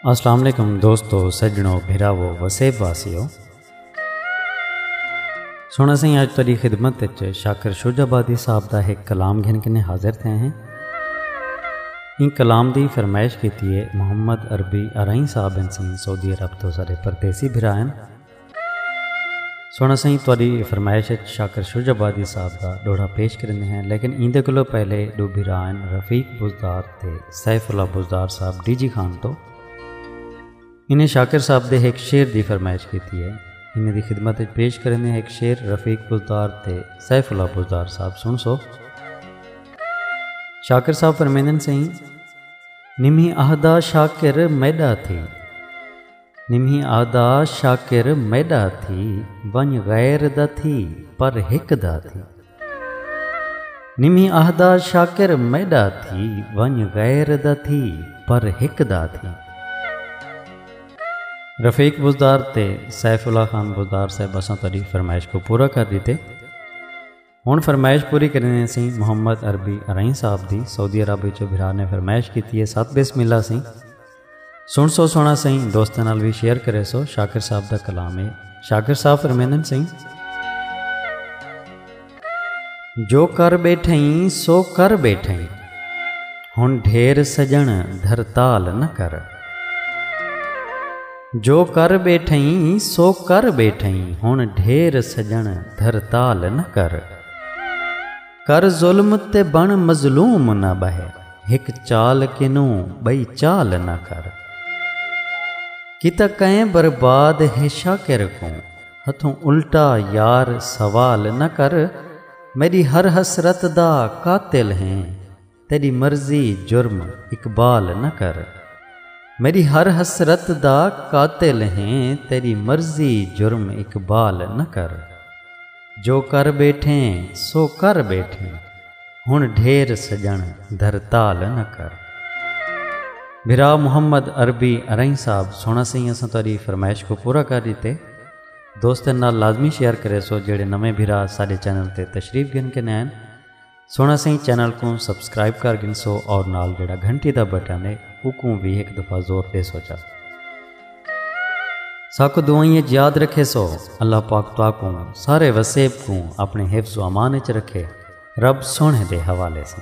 السلام علیکم دوستو سجنو بھراو وسیب واسیو سونا سائیں اج تیری خدمت وچ شاکر شوج آبادی صاحب دا ایک کلام گھن کنے حاضر تھے ہیں ان کلام دی فرمائش کیتی ہے محمد عربی ارائی صاحب انسان سعودی عرب تو سارے پردیسی بھرا ہیں سونا سائیں تہاڈی فرمائش اچ شاکر شجع آبادی صاحب دا ڈوہڑا پیش کریندے ہیں لیکن ایندے کولو پہلے ڈو بھرا ہن رفیق بزدار تے سیف اللہ بزدار صاحب ڈی جی خان تو انہیں شاکر صاحب دے ایک شعر دی فرمائش کیتی ہے انہیں دی خدمت اچ پیش کریندے ہیں ایک شعر رفیق بزدار تے سیف اللہ بزدار صاحب سن سو شاکر صاحب فرمیندن سائیں نمی اہدا شاکر میڈا تھی نمہی آہدا شاکر میݙا تھی ونڄ غیر دا تھی پر ہک دا تھی نمہی آہدا شاکر میݙا تھی ونڄ غیر دا تھی پر ہک دا تھی رفیق بزدار تے سیف اللہ خان بزدار صاحب اساں تہاݙی فرمائش کو پورا کر ݙتے ہن فرمائش پوری کریندے سی محمد عربی ارائیں صاحب دی سعودی عرب وچ بھرا نے فرمائش کیتی ہے سات بسم اللہ سی سن سو سونا سی دوستاں نال وی شیئر کرے سو شاکر صاحب دا کلام ہے شاکر صاحب فرمیندن سی جو کر بیٹھیں سو کر بیٹھیں ہن ڈھیر سجن دھرتال نہ کر جو کر ٻیٹھئیں سو کر ٻیٹھئیں ہݨ ڈھیر سڄݨ دھرتال نہ کر کر ظلم تے بݨ مظلوم نہ ٻہہ ہک چال کنوں ٻئی چال نہ کر کیتا کئیں برباد ہے شاکر کوں ہتھوں الٹا یار سوال نہ کر میݙی ہر حسرت دا قاتل ہیں تیݙی مرضی جرم اقبال نہ کر میݙی ہر حسرت دا قاتل ہیں تیݙی مرضی جرم اقبال نہ کر جو کر ٻیٹھیں سو کر ٻیٹھیں ہݨ ڈھیر سڄݨ دھرتال نہ کر بھرا محمد عربی ارائیں صاحب سونا سائیں اساں تاری فرمائش کو پورا کر دیتے دوستن نال لازمی شیئر کرے سو جڑے نویں بھرا سارے چینل تے تشریف گن کے نین سونا سائیں چینل کو سبسکرائب کر گنسو اور نال جڑا گھنٹی دا بٹن ہے اکوں بھی ایک دفعہ زور دے سوچا ساکو دعائیں یاد رکھے سو اللہ پاک تو کوں سارے وسیب کوں اپنے حفظ و امان وچ رکھے رب سونے دے حوالے سے